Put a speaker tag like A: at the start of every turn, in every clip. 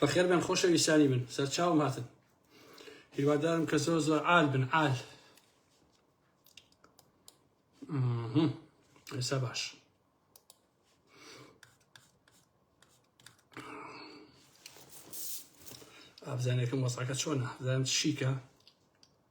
A: بەخێر بێن خۆشەویستانی من سەرچاوم هاتن هیوادارم کە زۆر زۆر عال بن عال ئێستا باش ئابزانەکەم وەساکە چۆنە زانم شیکە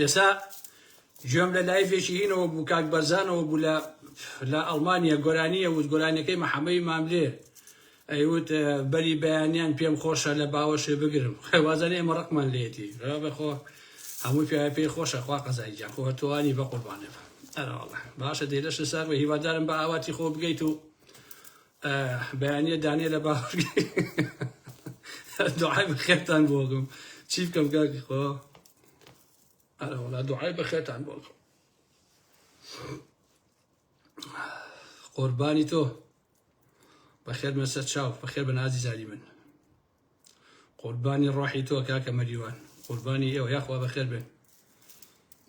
A: ئێستا گوێم لە لایڤێکی هینەوە بوو کاک بەرزانەوە بوو لە لە ئەڵمانیا گۆرانیە وت گۆرانیەکەی محەمەی ماملێ ئەیوت بەری بەیانیان پێم خۆشە لە باوەشێ بگرم وازانێ ئێمە ڕقمان لێتی بەخۆ هەموو پێ پێی خۆشە خوا قەزای گیان خۆ تۆوانی بە قوربانێ ئەرەڵە باشە دێ لەش سەر بە هیوادارم بە ئاواتی خۆ بگەیت و بەیانیە دانێ لە باوەشگای دوعای بەخێرتان بۆ بکەم چی بکەم کاکی خۆ ئەرە وڵا دوعای بەخێرتان بۆ بکەم قوربانی تۆ بەخێر مەسەر چاو بەخێر بە نازی زاری من قوربانی ڕۆحی تۆ کاکە مەریوان قوربانی ئێوە یاخوا بەخێر بێن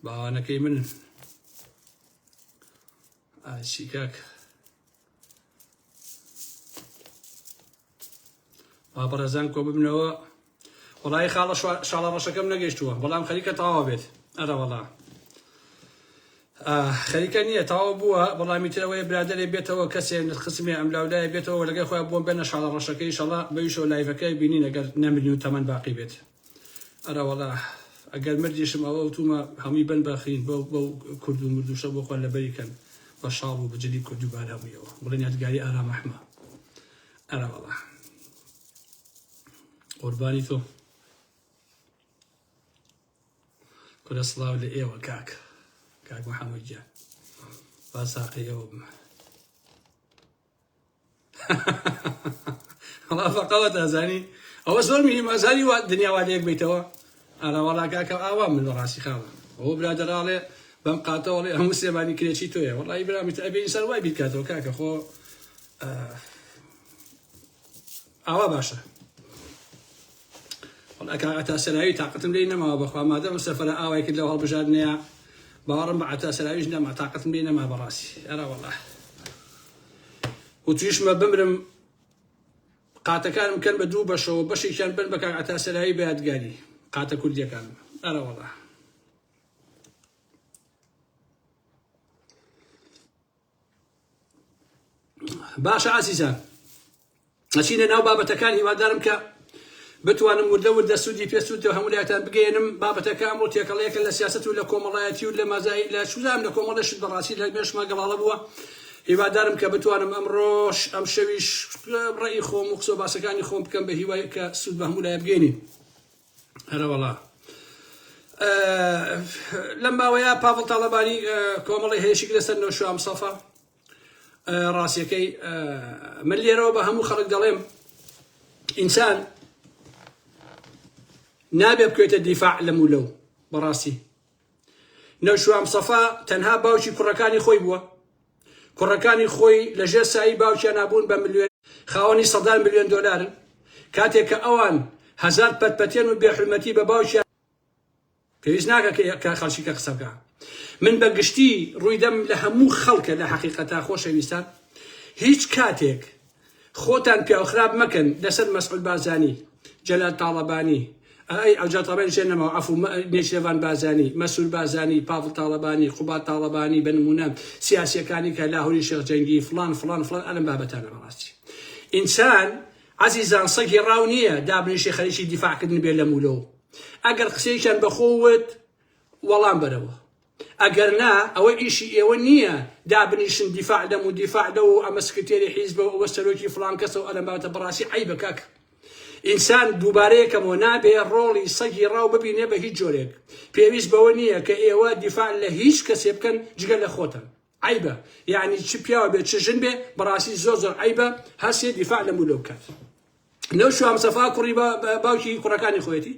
A: باوانەکەی من ئاشی کاکە با بەڕێزان کۆ ببنەوە وڵی خاڵە شاڵە ڕەشەکەم نەگەشتووە بەڵام خەریکە تەواوە بێت ئەرەوەڵا خەریکە نییە تاوا بووە بەڵامی ترەوەی برادێ بێتەوە کەسێن خسمێ ئەم لاولایە بێتەوە لەگە خۆیان بۆم بێنە شاڵە ڕەشەکەی شەڵا بەویشەوە لایڤەکەی بینی نەگەر نەمرین و تەمەەن باقی بێت ئەرەوەڵا ئەگەر مردیشم ئەوە ئەوتومە هەمووی بەن بە خین بەو بەو کورد و مردوشە بۆ خۆیان لەبەری کەن بە شاڵ و بجلی کورد و بارا بوویەوە بڵێن یادگاری ئارام ئەحمە ئەرەوەڵا قوربانی تۆ کورە سڵاو لە ئێوە کاک کاک محەممەد گیان با ساقی ئێوە بمە وەڵا فەقەوەت ئەزانی ئەوە زۆر مهیم ئەزانی وا دنیا وا لێک بیتەوە ئارا وەڵا کاکە ئاوا من لە ڕاستی خاوە ئەوە برادەراڵێ بەم قاتەوەڵێ هەموو سێمانی کرێچی تۆیە وەڵی برامیت ئەبێ ئینسان وای بیکاتەوە کاکە خۆ ئاوا باشە وەڵا کاک عەتا سەراوی تاقەتم لێی نەماوە بەخوا مادەم ئەم سەفەرە ئاوای کرد لەو هەڵبژاردنەیە باوەڕم بە عەتا سەراویش نەما تاقەتم لێی نەما بەڕاستی ئەرا وەڵا وتویشمە بمرم قاتەکانم کەن بە دوو بەشەوە بەشێکیان بن بە کاک عەتا سەراوی بە یادگاری قاتە کوردیەکان ئەرا وەڵا باشە ئازیزان ئەچینە ناو بابەتەکان هیوادارم کە بتوانم وردە وردە سوودی پێ سوود هەمولایەتان بگەێنم بابەتەکە ئەمڕۆ تێکەڵەیەکە لە سیاست و لە کۆمەڵایەتی و لە مازایی لە شوزام لە کۆمەڵەشت بەڕاستی لە مێشما گەڵاڵە بووە هیوادارم کە بتوانم ئەمڕۆش ئەم شەویش ڕێی خۆم و قسە باسەکانی خۆم بکەم بە هیوای کە سوود بە هەمولای بگەێنین هەرەوەڵا لەم ماوەیە پاڤڵ تاڵەبانی کۆمەڵی هێشک لەسەر نەوشام سەفا ڕاستیەکەی من لێرەوە بە هەموو خەڵک دەڵێم ئینسان نابێ بکوێتە دیفاع لەم و لەو بەڕاستی نەوشیروان مستەفا تەنها باوکی کوڕەکانی خۆی بووە، کوڕەکانی خۆی لە ژێر سایەی باوکیانا بوون بە ملیۆنێر، خاوەنی سەدان ملیۆن دۆلارن، کاتێک کە ئەوان هەزار پەتپەتێن و بێ حورمەتی بە باوکیان. پێویست ناکا کە خەلکی کە قسە بکا من بە گشتی روی دەم لە هەموو خەلکە لە حەقیقەتا خۆشەویستان هیچ کاتێک خۆتان پیاو خراپ مەکەن لەسەر مەسعود بارزانی جەلال تاڵەبانی ئەی ئەو جاتەڵێن شێ نەماوە ئەفو نێچێڤان بازانی مەسول بازانی پاڤڵ تاڵەبانی قوبات تاڵەبانی بە نمونە سیاسیەکانی کە لاهوری شێخ جەنگی فلان فلان فلان ئەلم بابەتانە بەڕاستی ئینسان عزیزان سەگی ڕاو نییە دابنیشی خەریکی دیفاعکردن بێ لە مولەوە ئەگەر قسەیەکیان بەخۆوت وەڵام بەرەوە ئەگەر نا ئەوە ئیشی ئێوە نییە دابنیشن دیفاع لەم و دیفاع لەو و ئەمە سکرتێری حیزبە و ئەوە سەرۆکی فڵان کەسە و ئەلەم بابەتە بەڕاستی عەیبە کاک ئینسان دووبارەیەکەمەوە نابێ ڕۆڵی سەگی ڕاو ببینێ بە هیچ جۆرێک پێویست بەوە نییە کە ئێوە دیفاع لە هیچ کەسێ بکەن جگە لە خۆتان. عەیبە یەعنی چ پیاو بێ چ ژن بێ بەڕاستی زۆر زۆر عەیبە هەر سێ دیفاع لەم و لەو بکات لەو شوام سەفا کوڕی باوکی کوڕەکانی خۆیەتی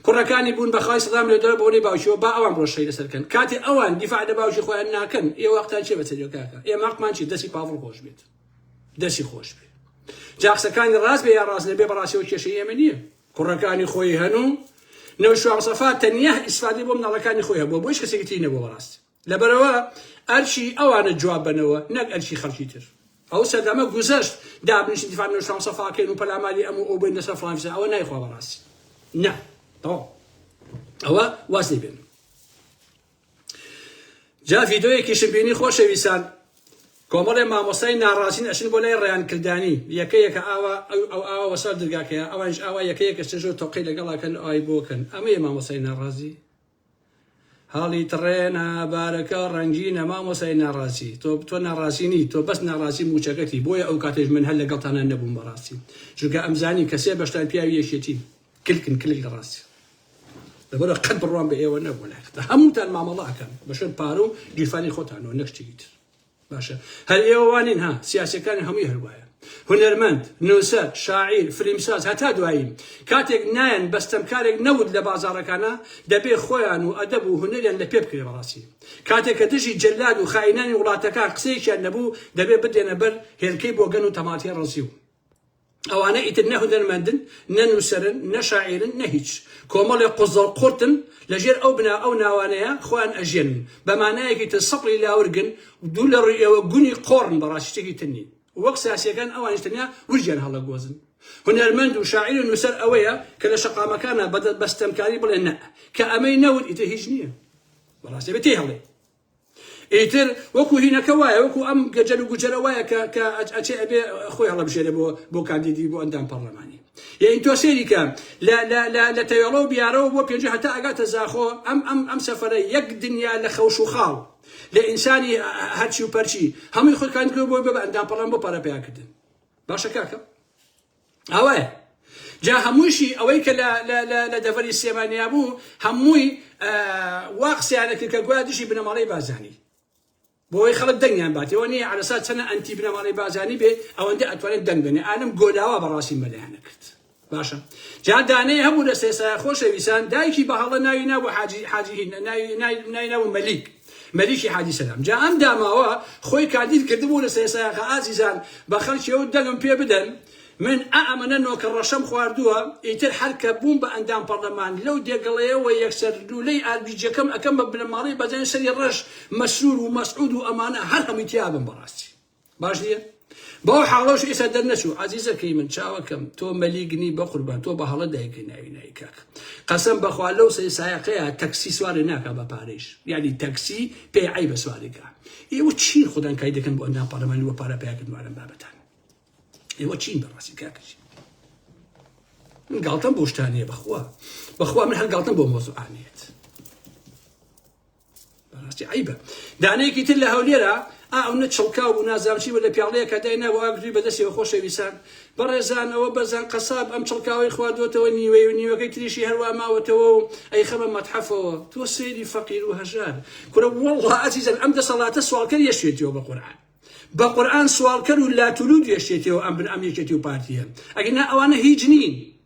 A: کوڕەکانی بوون بەخوای سەدام لێ دەر بۆنی باوکیەوە با ئەوان ڕۆشەی لەسەرکەن کاتی ئەوان دیفاع لە باوکی خۆیان ناکەن ئێ وەختان چێ بەچەریۆکاکە ئێمە قمان چی دەسی پاڤڵ خۆش بێت دەسی خۆش بێ جاقسەکانی ڕاست بێ یا ڕاست نەبێ بەڕاستەوە کێشەی ئێمە نییە کوڕەکانی خۆی هەن و نەوشوام سەفا تەنیا ئیسفادی بۆ مناڵەکانی خۆی هەبووە بۆش کەسێکتی نەبوو بەڕاست لەبەرئەوە ئەرکی ئەوانە جواب بەنەوە نەک ئەرکی خەلکی تر ئەو سەردەمە گوزەشت دابنیشن دیفاع لە شام سەفاکەین و پەلاماری ئەم و ئەو بین لەسەر فلان فیسا ئەوە نایخوا بەڕاستی نا تەواو ئەوە واز لێ بێنن جا ڤیدۆیەکیشم بینی خۆشەویستان کۆمەڵێ مامۆستای ناڕازین ئەشن بۆ لای ڕیان کردانی یەکە یەکە ئاوا ئەو ئاوا وەسەر درگاکەیە ئەوانش ئاوا یەکە یەکە چێژۆ تۆقی لەگەڵاکەن ئای بۆکەن ئەمەیە مامۆستای ناڕازی هەڵی تڕێنە بارەکە ڕەنگینە مامۆسای ناڕاستی تۆ تۆ ناڕاستی نی تۆ بەس ناڕاستی موچەکەتی بۆیە ئەو کاتێش من هەر لەگەڵتانە نەبووم بەڕاستی چونکە ئەمزانی کە سێ بەشتان پیاوی یەکێتی کلکن کلک لە ڕاستی لەبەرە قەت بڕوان بە ئێوە نەبوو لای هەمووتان مامەڵە ئەکەن بەشەر پارە و گیرفانی خۆتانەوە نەک شتێکی تر باشە هەر ئێوە وا نین ها، سیاسیەکانی هەمووی هەر وایە، هونەرمەند، نووسەر، شاعیر، فلیمساز هەتا دوایین، کاتێک نایەن بە ستەمکارێک نەوت لە بازاڕەکانا، دەبێ خۆیان و ئەدەب و هونەریان لە پێ بکرێ بەڕاستی کاتێک کە دژی جەلاد و خائینانی وڵاتەکان قسەیەکیان نەبوو دەبێ بدرێنە بەر هێلکەی بۆگەن و تەماتەی ڕەزیو. ئەوانە ئیتر نە هونەرمەندن، نە نووسەرن، نە شاعیرن، نە هیچ. کۆمەڵێ قوزەڵ قورتن، لە ژێر ئەو بنا ئەو ناوانەیە خۆیان ئەژێنن. بە مانایەکی تر سەپڵی لاورگن و دوور لە ڕووی ئێوە گونی قۆڕن بەڕاستی شتێکی تر نین. وەک سیاسییەکان ئەوانیش تەنیا ورگیان هەڵەگۆزن. هونەرمەند و شاعیر و نووسەر ئەوەیە کە لە شەقامەکانا بە ستەمکاری بڵێ نەء. کە ئەمەی نەوت ئیتر هیچ نییە. بەڕاستی ئەبێ تێی هەڵێی. ئیتر وەکو هینەکە وایە وەکو ئەم گەجەل و گوجەلە وایە کە کە ئەچێ ئەبێ خۆی هەڵەبژێرێ بۆ بۆ کاندیدی بۆ ئەندام پەڕلەمانی یەین تۆ سەیری کە لە لە لە لە تەوێڵە و بیارەوە بۆ پێنجە هەتا ئەگاتە زاخۆ ئەم ئەم ئەم سەفەرە یەک دنیا لە خەوش و خاڵ لە ئینسانی هەرچی و پەرچی هەمووی خۆی کاندکرد بۆی بە ئەندام پەڕلەمان بۆ پارە پیاکردن باشە کاکە ئەوەیە جا هەمووشی ئەوەی کە لە دەڤەری سلێمانیا بوو هەمووی وا قسەیانە کرد کە گویا دژی بنەماڵەی بازانی بۆی خەڵک دەنگیان باتەوە نیە عرسا چەنە ئەنتی بنەماڵەی بازانی بێ ئەوەندە ئەتوانێت دەنگ بێنێ ئالم گۆلاوە بەڕاستی مەلیانە کرد باشە جا دانەیە هەبوو لە سێسا خۆشەویسان دایکی بە هەڵە ناوی نابوو حاجی حاجی ناوی ناوی ناوی مەلیک مەلیکی حاجی سەلام جا ئەم داماوە خۆی کاندید کردبوو لە سەیسایەقە ئازیزان بە خەڵکی ئەو دەنگم پێ بدەن من ئا ئەمەنە نۆکە ڕەشەم خواردووە ئیتر هەر کە بووم بە ئەندام پەڕلەمان لەو دێگەڵەیەوە یەکسەر لوولەی ئاربیجەکەم ئەکەم بە بنەماڵەی بەزەن سەری ڕەش مەسرور و مەسعود و ئەمانە هەر هەمووی تیابم بەڕاستی باش نییە بەو حاڵەش ئێستا دەرنەچوو عزیزەکەی من چاوەکەم تۆ مەلیگنی بەقوربان تۆ بە هەڵە دایکە ناوی نای کاک قەسم بەخوا لەو سێ سایەقەیە تەکسی سوارێ ناکە بە پارەیش یعنی تەکسی پێ عی بە سوارێکە ئێوە چی خودان کای دەکەن بۆ ئەندام پەرلەمانی وە پارە پیاکردوارم بابەتان ئێوە چین بەڕاستی کاکەچی من گاڵتەم بۆشتانە بەخوا بەخوا من هەر گاڵتەم بۆ مۆزوعانێت عیبە دانەیەکی تر لە هەولێرا ئەونە چڵکاو و نازامچی بە لە پیاڵەیەکە داینا و ئاگری بەدەستەوە خۆشەویسان بەڕێزانەوە بەزان قەساب ئەم چڵکاوی خواردوەتەوە نیوەی و نیوەکەی تریشی هەروا ماوەتەوە و ئەی خەمە مەتحەفەوە تۆ سەیری فەقیر و هەژار کورە وەڵڵا ئەزیزەن ئەم دەسەڵاتە سوالکەر یەشێتیەوە بە قورعان بە قورآن سوالکەر و لاتولود یەشێتیەوە ئەم بن ئەم یەکێتی و پارتیە ئەگەنا ئەوانە هیچ نین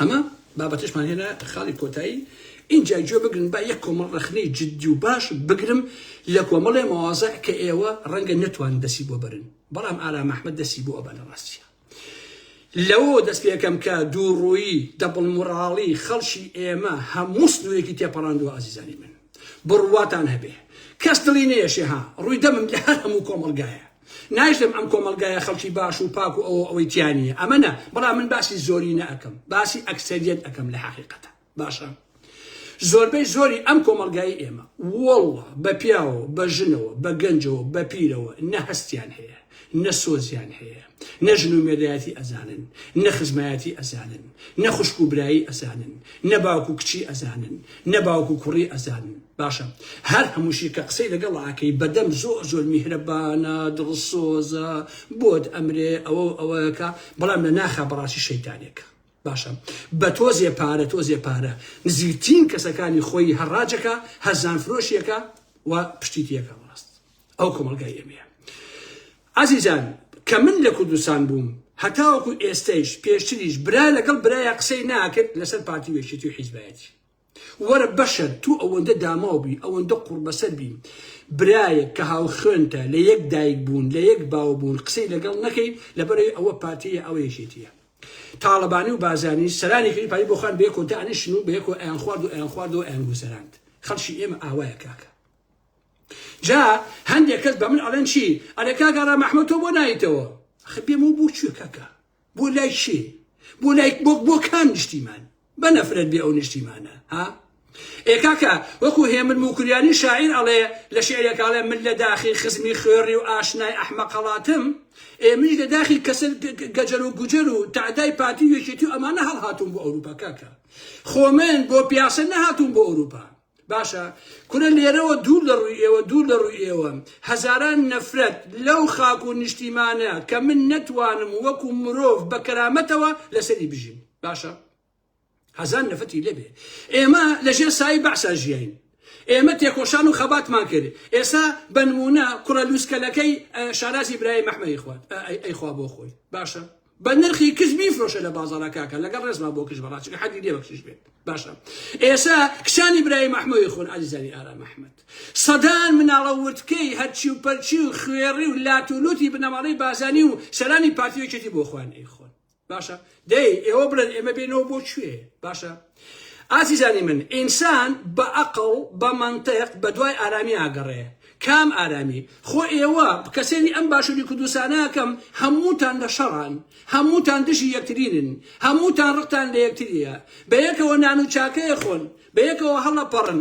A: ئەمە بابەتشمان هێنا خاڵی کۆتایی اینجا گوێ بگرن با یەک کۆمەڵ ڕخنەی جددی و باش بگرم لە کۆمەڵێ مەوازە کە ئێوە ڕەنگە نەتوان دەسی بۆ برن بەڵام ئارا مححمد دەسی بۆ ئەبەنە ڕاستە لەوە دەست پێکەم کە دوو ڕووی دەبڵ مراڵی خەڵکی ئێمە هەموو سنوورێکی تێپەڕاندوە ئازیزانی من بڕواتان هەبێ کەس دڵی نێشێ ها ڕووی دەمم لە هەر هەموو کۆمەلگایە نایشتم ئەم کۆمەڵگایە خەڵکی باش و پاک و ئەوە ئەوەی تیا نییە ئەمە نا بەڵام من باسی زۆرینە ئەکەم باسی ئەکسەریەت ئەکەم لە حەقیقەتە باشە زۆربەی زۆری ئەم کۆمەڵگای ئێمە وەڵڵە بە پیاوە بە ژنەوە بە گەنجەوە بە پیرەوە نە هەستیان هەیە نە سۆزیان هەیە نە ژن و مێردایەتی ئەزانن نە خزمایەتی ئەزانن نە خوشک و برایی ئەزانن نە باوک و کچی ئەزانن نە باوک و کوڕی ئەزانن باشە هەر هەمووشی کە قسەی لەگەڵ ئاکەی بەدەم زۆر زۆر میهرەبانە دڵسۆزە بۆت ئەمرێ ئەوە ئەوەکە بەڵام لە ناخە بەڕاستی شەیتانێکە باشە بە تۆزێ پارە تۆزێ پارە نزیکترین کەسەکانی خۆی هەڕاجەکە هەزان فرۆشیەکە و پشتی تێکە ڕاست ئەو کۆمەلگای ئێمەیە ئازیزان کە من لە کوردستان بووم هەتاوەکو ئێستەیش پێشتریش برا لەگەڵ برایە قسەی ناکرد لەسەر پارتی وێشێتی و حیزبایەتی وەرە بەشەر تو ئەوەندە داماو بی ئەوەندە قوڕبەسەر بی برایەک کە هاوخوێنتە لە یەک دایک بوون لە یەک باو بوون قسەی لەگەڵ نەکەی لەبەرەی ئەوە پارتیە ئەوە یەکێتیە تاڵەبانی و بازانی سەرانی کردی پای بۆخان بە یەکۆ دانیشن و بە یەکۆ ئەیان خوارد و ئەیان خواردەوە ئەیان گوزەراند خەڵکی ئێمە ئاوایە کاکە جا هەندێک کەس بە من ئەڵێن چی ئەلێ کاگەڕا مەحمەد تۆ بۆ نایتەوە خبێمەوە بۆ کوێ کاکە بۆ لای کێ بۆ لای بۆ بۆ کام نیشتیمان بە نەفرەت بێ ئەو نیشتیمانە ها ئێ کاکە وەکو هێمن موکریانی شاعیر ئەڵێ لە شعرێکاڵێ من لە داخی خزمی خوێڕی و ئاشنای ئەحمە قەڵاتم ئێمەش لە داخی کەسە گەجەر و گوجەر و تعدای پارتی و یەکێتی و ئەمانە هەڵهاتون بۆ ئەوروپا کاکە خۆمن بۆ پیاسە نەهاتون بۆ ئەوروپا باشە کورە لێرەوە دوور لە ڕووی ئێوە دوور لە ڕووی ئێوە هەزاران نەفرەت لەو خاک و نیشتیمانە کە من نەتوانم وەکو مرۆڤ بە کەرامەتەوە لەسەری بژیم باشە هەزان نەفەتی لێبێ ئێمە لەژێر سایی بەعسا ژیین ئێمە تێکۆشان و خەباتمان کرد ئێسا بەنمونە کوڕە لوسکەلەکەی شارازی برای مەحمەی خوات ئەیخوا بۆ خۆی باشە بە نرخی کچ بیفرۆشە لە بازاڕا کاکە لەگەڵ ڕێزما بۆ کچ بەڕا چکە حەدی نیە بە کچیش بێت باشە ئێسا کچانی برای مەحمەوی خۆن ئازیزانی ئارام ئەحمەد سەدان مناڵە وردکەی هەرچی و پەرچی و خوێڕی و لات و لوتی بنەماڵەی بازانی و سەرانی پارتیەکێتی بۆ خوان ئەی خۆن باشە دەی ئێوە بڵێن ئێمە بێنەوە بۆ کوێ باشە ئازیزانی من ئینسان بە ئەقڵ بە مەنتق بە دوای ئارامی ئاگەڕێ کام ئارامی خۆ ئێوە کە سێری ئەم باشوری کوردستانە ئەکەم هەمووتان لە شەڕان هەمووتان دژی یەکترینن هەمووتان ڕقتان لە یەکتریە بە یەکەوە نان و چاکەیە خۆن بە یەکەوە هەڵەپەڕن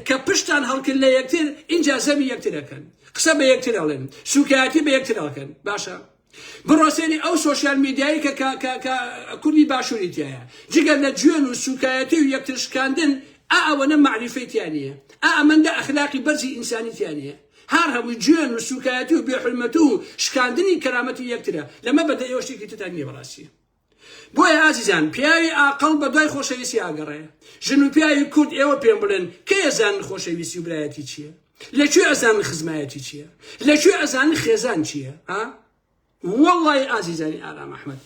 A: کە پشتان هەڵکرد لە یەکتر ئینجا زەمی یەکتر ئەکەن قسە بە یەکتر ئەڵێن سوکایەتی بە یەکتر ئەکەن باشە بڕۆ سەیری ئەو سۆشیال میدیایەی کە کە کە کە کوردی باشووری تیایە جگە لە جوێن و سووکایەتی و یەکتر شکاندن ئا ئەوەنە مەعریفەی تیا نییە ئا ئەمەندە ئەخلاقی بەرزی ئینسانی تیا نییە هار هەمووی جوێن و سووکایەتی و بێ حورمەتوو و شکاندنی کەرامەتی یەکترە لەمە بەدەر ئێوە شتێکی ترتان نییە بەڕاستی. بۆیە ئازیزان پیاوی ئاقڵ بە دوای خۆشەویستی ئاگەڕێ. ژن و پیاوی کورد ئێوە پێم بڵێن کەی ئەزانن خۆشەویستی و برایەتی چییە؟ لە کوێ ئەزانن خزمایەتی چییە؟ لە کوێ ئەزانن خێزان چییە؟ ها؟ وەڵڵای ئازیزانی ئارام ئەحمەد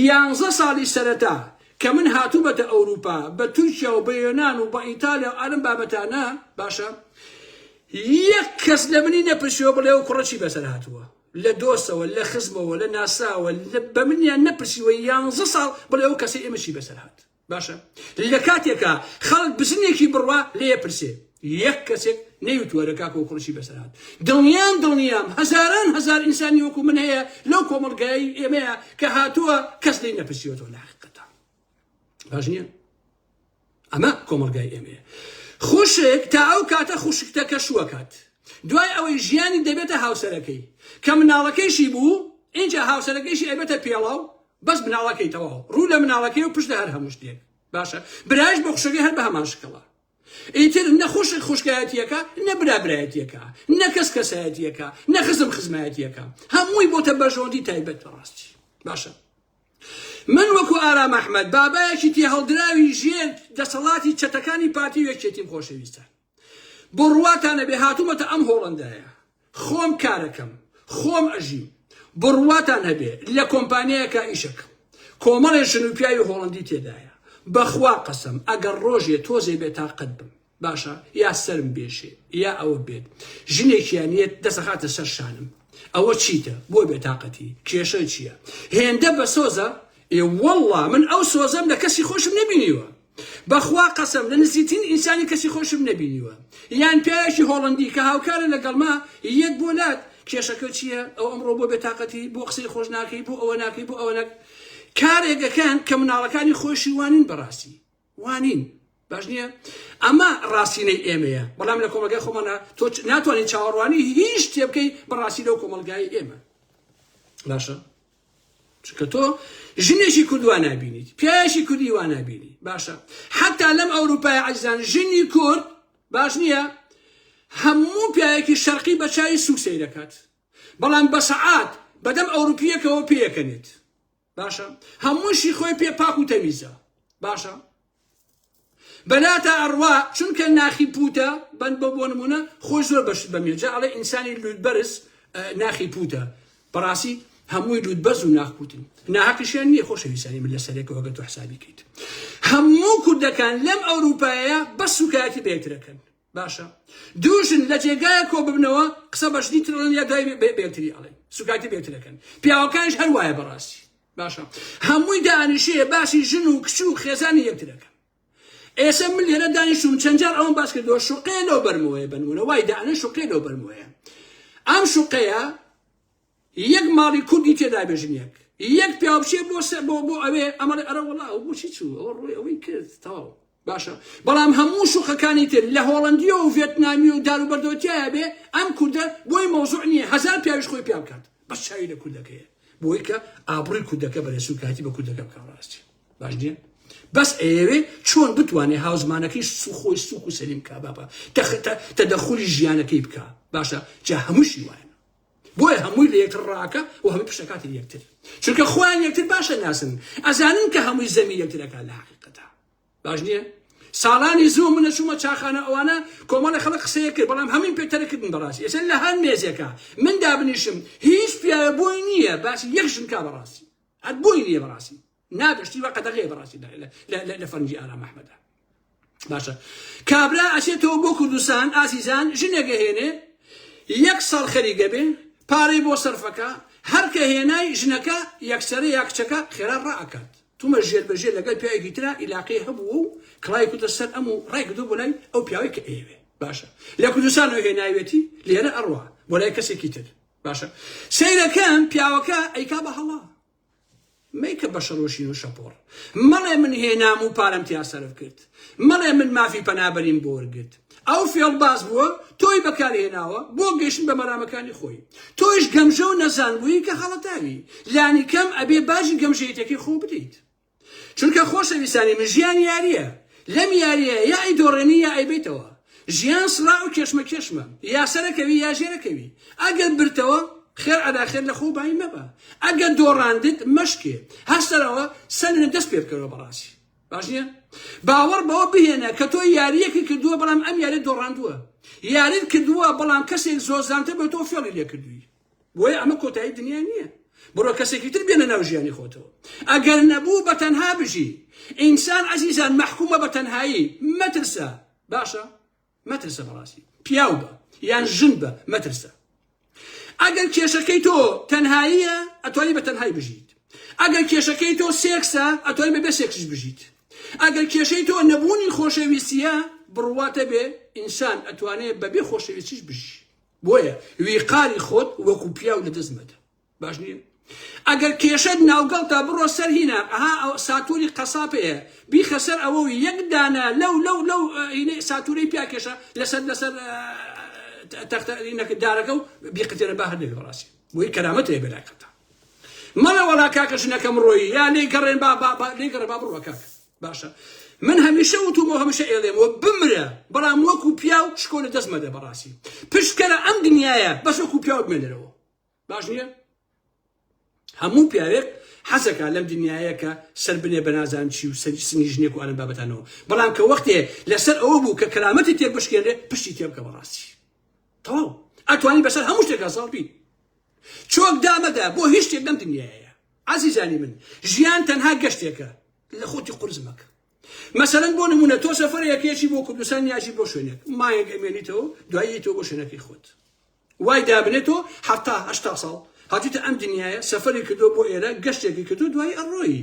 A: یانزە ساڵی سەرەتا کە من هاتوومەتە ئەوروپا بە تورکیا و بە یۆنان و بە ئیتالیا و ئەرم بابەتانە باشە یەک کەس لە منی نەپرسیەوە بڵێ و کوڕە چی بەسەر هاتووە لە دۆستەوە، لە خزمەوە، لە ناسراوە بە منیان نەپرسیوە یانزە ساڵ بڵێ ئەو کەسەی ئێمە چی بەسەر هات؟ باشە لە کاتێکا خەڵک بزنێکی بڕوا لێ پرسێ یەک کەسێک نەیوتوە لە کاکۆ کوڕشی بەسەر هات دڵنیان دڵنیام هەزاران هەزار ئینسانی وەکو من هەیە لەو کۆمەڵگای ئێمەیە کە هاتووە کەس لی نەپرسیوەەوە لە حقیقەتە باش نییە ئەمە کۆمەلگای ئێمەیە خوشک تا ئەو کاتە خوشکتە کە شوەکات دوای ئەوەی ژیانی دەبێتە هاوسەرەکەی کە مناڵەکەیشی بوو اینجا هاوسەرەکەیشی ئەبێتە پێڵاو بەس مناڵەکەی تەواو ڕوو لە مناڵەکەی و پشت هەر هەموو شتێک باشە برایش بۆ خوشەکەی هەر بە هەمان شکڵە ئیتر نە خوشک خوشکایەتیەکە نە برا برایەتیەکە نە کەس کەسایەتیەکە نە خزم خزمایەتیەکە هەمووی بۆتە بەژۆندی تایبەت بەڕاستی باشە من وەکو ئارام ئەحمەد، بابایەکی تێهەڵدراوی ژێر دەسەڵاتی چەتەکانی پارتی و یەکێتیم خۆشەویستان. بۆ ڕوواتان نەبێ هاتوومەتە ئەم هۆڵەندایە. خۆم کارەکەم. خۆم ئەژیم. بۆ ڕوواتان هەبێ لە کۆمپانیایەکا ئیشەکەم. کۆمەڵێ ژن و پیاوی هۆڵەندی تێدایە. بەخوا قەسەم ئەگەر ڕۆژێ تۆزێ بێ تاقەت بم. باشە یا سەرم بێشێ یا ئەوە بێت ژنێکیان یەت دەسەخاتە سەر شانم ئەوە چیتە بۆ بێتاقەتی کێشە چییە هێندە بە سۆزە ئێ والله من ئەو سۆزەم لە کەسی خۆشم نەبینیوە بەخوا قەسم لە نزیترین ئینسانی کەسی خۆشم نەبینیوە یان پیاوێکی هۆڵندی کە هاوکارە لەگەڵما یەت بۆ لات کێشەکە چییە ئەو ئەمڕۆ بۆ بێتاقەتی بۆ قسەی خۆش ناکەی بۆ ئەوە ناکەی بۆ ئەوە ناک کارێکەکەن کە مناڵەکانی خۆشی وانین بەڕاستی وانین باش نییە ئەمە ڕاستینەی ئێمەیە بەڵام لە کۆمەلگای خۆمانە تۆ ناتوانانی چاوەڕوانی هیچ شتێ بکەی بە ڕاستی لەو کۆمەلگای ئێمە باشە چکە تۆ ژنێکی کوردوان نبینیت پیاوێکی کوردی وان نبینی باشە حتا لەم ئەوروپای عزان ژنی کورد باش نییە هەموو پیاوێکی شەرقی بە چاوی سوک سەیرەکات بەڵام بە سەعات بەدەم ئەوروپیەکەوە پێەکەنێت باشە هەمووشی خۆی پێ پاک و تەمیزە باشە بەلاتا ئەڕوا چونکە ناخی پوتە بەند بە بۆ نمونە خۆی زۆر بەشت بەمێ جا ئەڵێ ئینسانی لوت بەرز ناخی پوتە بەڕاستی هەمووی لوت بەرز و ناخپوتن ناهاقیشیان نییە خۆشەویستانی من لە سەرێکەوەگە تۆ حسابی کەیت هەموو کوردەکان لەم ئەوروپایە بە سوکایەتی بێترەکەن باشە دوو ژن لە جێگایە کۆ ببنەوە قسە بە ژنی تر ئەڵێن یا دوای بێ- بێ- بێتری ئەڵێن سوکایەتی بێترەکەن پیاوەکانیش هەر وایە بەڕاستی باشە هەمووی دانیشەیە باسی ژن و کچ و خێزانی یەکترەکە ئێسە من لێرە دانیشتوم چەند جار ئەوم باس کردەوە شوقەیە لەو بەرمەوەیە بنمونە وای دانە شوقەیە لەو بەرمەوەیە ئەم شوقەیە یەک ماڵی کوردی تێدا بێ ژنێک یەک پیاو بچێ بۆ سە بۆ بۆ ئەوێ ئەمەڵێ ئەرە وەڵا ئەو بۆچی چوو ئەوە ڕووی ئەوەی کرد تەواو باشە بەڵام هەموو شوقەکانی تر لە هۆڵندیە و ڤێتنامی و دار و بەردۆتیایە بێ ئەم کوردە بۆی مەوزوع نییە هەزار پیاویش خۆی پیا بکات بەس چاوی لە کوردەکەیە بۆی کە ئابڕی کوردەکە بەرێ سوکایەتی بە کوردەکە بکە ڕاستی باش نییە بەس ئەیەوێ چۆن بتوانێ هاوزمانەکەی سوخۆی سوک و سەلیم کا باپە تەخت تەدەخولی ژیانەکەی بکە باشە جا هەمووشی وایە بۆیە هەمووی لە یەکتر ڕاکە و هەمووی پشتەکاتی یەکتر چونکە خۆیان یەکتر باشە ناسن ئەزانن کە هەمووی زەمی یەکترەکە لە حقیقەتە باش نییە ساڵانی زۆ منە چوومە چاخانە ئەوانە کۆمەڵی خەڵک قسەیە کرد بەڵام هەمین پێتەرکردن بەڕاستی ئێستا لە هەر مێزێکە من دابنیشم هیچ پیاوە بۆی نییە باسی یەک ژنکا بەڕاستی هەر بۆی نییە بەڕاستی ناگەشتی وە قەدەغەیە بەڕاستی لە فەرنگی ئارام ئەحمەدە باشە کابرا ئەچێتەوە بۆ کوردستان ئازیزان ژنێکە هێنێ یەک ساڵ خەریگە بێ پارەی بۆ سەرفەکە هەرکە هێنای ژنەکە یەکسەرە یا کچەکە خێرا ڕاکات تومە ژێر بەژێ لەگەڵ پیاوێکی تررا ئیلاقی هەبوو و کڵای کوتە سەر ئەم و ڕای کردو بۆ لای ئەو پیاوەی کە ئێوێ باشە لە کوردستان و هێناوێتی لێرە ئەڕوا بۆ لای کەسێکی تر باشە سیرەکەم پیاوەکە ئەیکا بە هەڵا مەیکە بە شەڕ و شین و شەپۆڕ مەڵێ من هێنام و پارەم تیا سەرف کرد مەڵێ من مافی پەنابەریم بۆ وەرگرت ئەو فێڵباز بووە تۆی بەکارهێناوە بۆ گەشتن بە مەرامەکانی خۆی تۆیش گەمژە و نەزان بووی کە خەڵەتاوی لانی کەم ئەبێ باجی گەمژەیتەکەی خۆ بدەیت چونکە خۆشەویستانی من ژیان یاریە لەم یاریە یا ئەیدۆڕێنی یا ئەیبەیتەوە ژیان سڕا و کێشمەکێشمە یا سەرەکەوی یا ژێرەکەوی ئەگەر برتەوە خێر ئەدا خێر لە خۆ بایی مەبە ئەگەر دۆڕاندت مەشکێ هەستەرەوە سەرنە دەست پێ بکەرەوە بەڕاستی باش نییە باوەڕ بەوە بهێنە کە تۆ یاریەکی کردووە بەڵام ئەم یاری دۆڕاندووە یاریت کردووە بەڵام کەسێک زۆر زانتە بە تۆ فێڵی لێ کردووی بۆیە ئەمە کۆتایی دنیا نییە بڕۆ کەسێکی تر بێنە ناو ژیانی خۆتەوە ئەگەر نەبوو بە تەنها بژی ئینسان عزیزان مەحکومە بە تەنهایی مەترسە باشە مەترسە بەڕاستی پیاو بە یان ژن بە مەترسە ئەگەر کێشەکەی تۆ تەنهاییە ئەتوانی بە تەنهای بژیت ئەگەر کێشەکەی تۆ سێکسە ئەتوانی بەبێ سێکسش بژیت ئەگەر کێشەی تۆ نەبوونی خۆشەویستیە بڕواتە بێ ئینسان ئەتوانێت بەبێ خۆشەویستیش بژی بۆیە ویقاری خۆت وەکو پیاو لە دەست مەدە باش نییە ئەگەر کێشەت ناوگەڵتا بڕۆ سەر هینا ئەها ئەو ساتوری قەساب هەیە بیخە سەر ئەوە و یەک دانە لەو لەو لەو هینەی ساتورەی پیاکێشە لەسەر لەسەر تەختە هینەکە دارەکە و بیقتێنە با هەر لەوێ بڕاستی بۆی کەرامەت هەیە بەلاکەتە مەڵە وەڵا کاکە ژنەکەم ڕۆیی یا لێی گەڕێن با با با لێی گەڕێ با بڕۆ کاکە باشە من هەمیشە وتومە هەمیشە ئێڵێمەوە بمرە بەڵام وەکو پیاو شکۆ لە دەست مەدە بەڕاستی پشکەرە ئەم دنیاە بەس وەکو پیاو بمێنەرەوە باش نییە هەموو پیاوێک حەزەکە لەم دنیاە کە سەر بنێ بە نازان چی و سەری سنی ژنێک و ئەلم بابەتانەوە بەڵام کە وەختێ لەسەر ئەوە بوو کە کەرامەتی تێک بشکێنێ پشتی تێ بکە بەڕاستی تەواو ئەتوانی بەسەر هەموو شتێکا ساڵ بی چۆک دامەدا بۆ هیچ شتێک لەم دنیاە عزیزانی من ژیان تەنها گەشتێکە لە خۆتی قورس مەکە مەسەلەن بۆ نمونە تۆ سەفەر یەکێکی بۆ کوردستان یاژی بۆ شوێنێک مایەک ئەمێنیتەوە دوایی تۆ بۆ شوێنەکەی خۆت وای دابنێت تۆ حتا هشتا ساڵ هاتیتە ئەم دنیاە سەفری کردو بۆ ئێرە گەشتێکی کردو دوای ئەڕۆی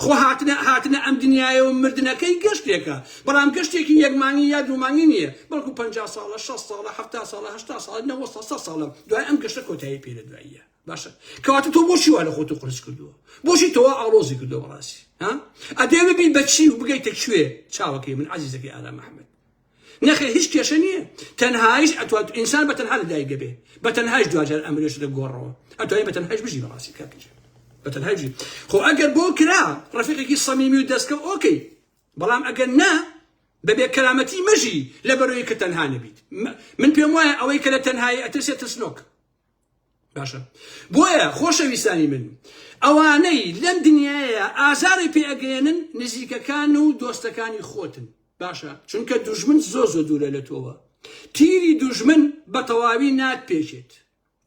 A: خۆ هاتنە هاتنە ئەم دنیاە و مردنەکەی گەشتێکە بەڵام گەشتێکی یەکمانی یا دومانی نییە بەڵکو پ ساڵە 6 ساڵە ه ساڵە ه ساڵ 90 ساڵە دوای ئەم گەشتە کۆتایی پێ لە دواییە باشە کەواتە تۆ بۆشی وا لە خۆت و قرس کردووە بۆشی تۆوا ئاڵۆزی کردو بەڕاستی ها ئەدێ ببین بەچی و بگەیتە کوێ چاوەکەی من عزیزەکەی ئارا محمد نەخێ هیچ کێشە نییە تەنهایش ئەتوات ئینسان بە تەنها لە دایک دەبێ بە تەنهایش دواجار ئەمرێش لە گۆڕەوە ئەتوای بە تەنهایش بژی بەڕاستی کاکەج بە تەنهایش خۆ ئەگەر بۆ کرا ڕفیقێکی سەمیمی و دەستکە ئۆکەی بەڵام ئەگەر نا بەبێ کەرامەتی مەژی لە بەرۆی کە تەنها نەبیت من پێم وایە ئەوەی کە لە تەنهایی ئەترسێت ترسنۆک باشە بۆیە خۆشەویستانی من ئەوانەی لەم دنیاە ئازاری پێگەێنن نزیکەکان و دۆستەکانی خۆتن باشە چونکە دوژمن زۆ زۆ دوورە لە تۆوە تیری دوژمن بە تەواوی نات پێچێت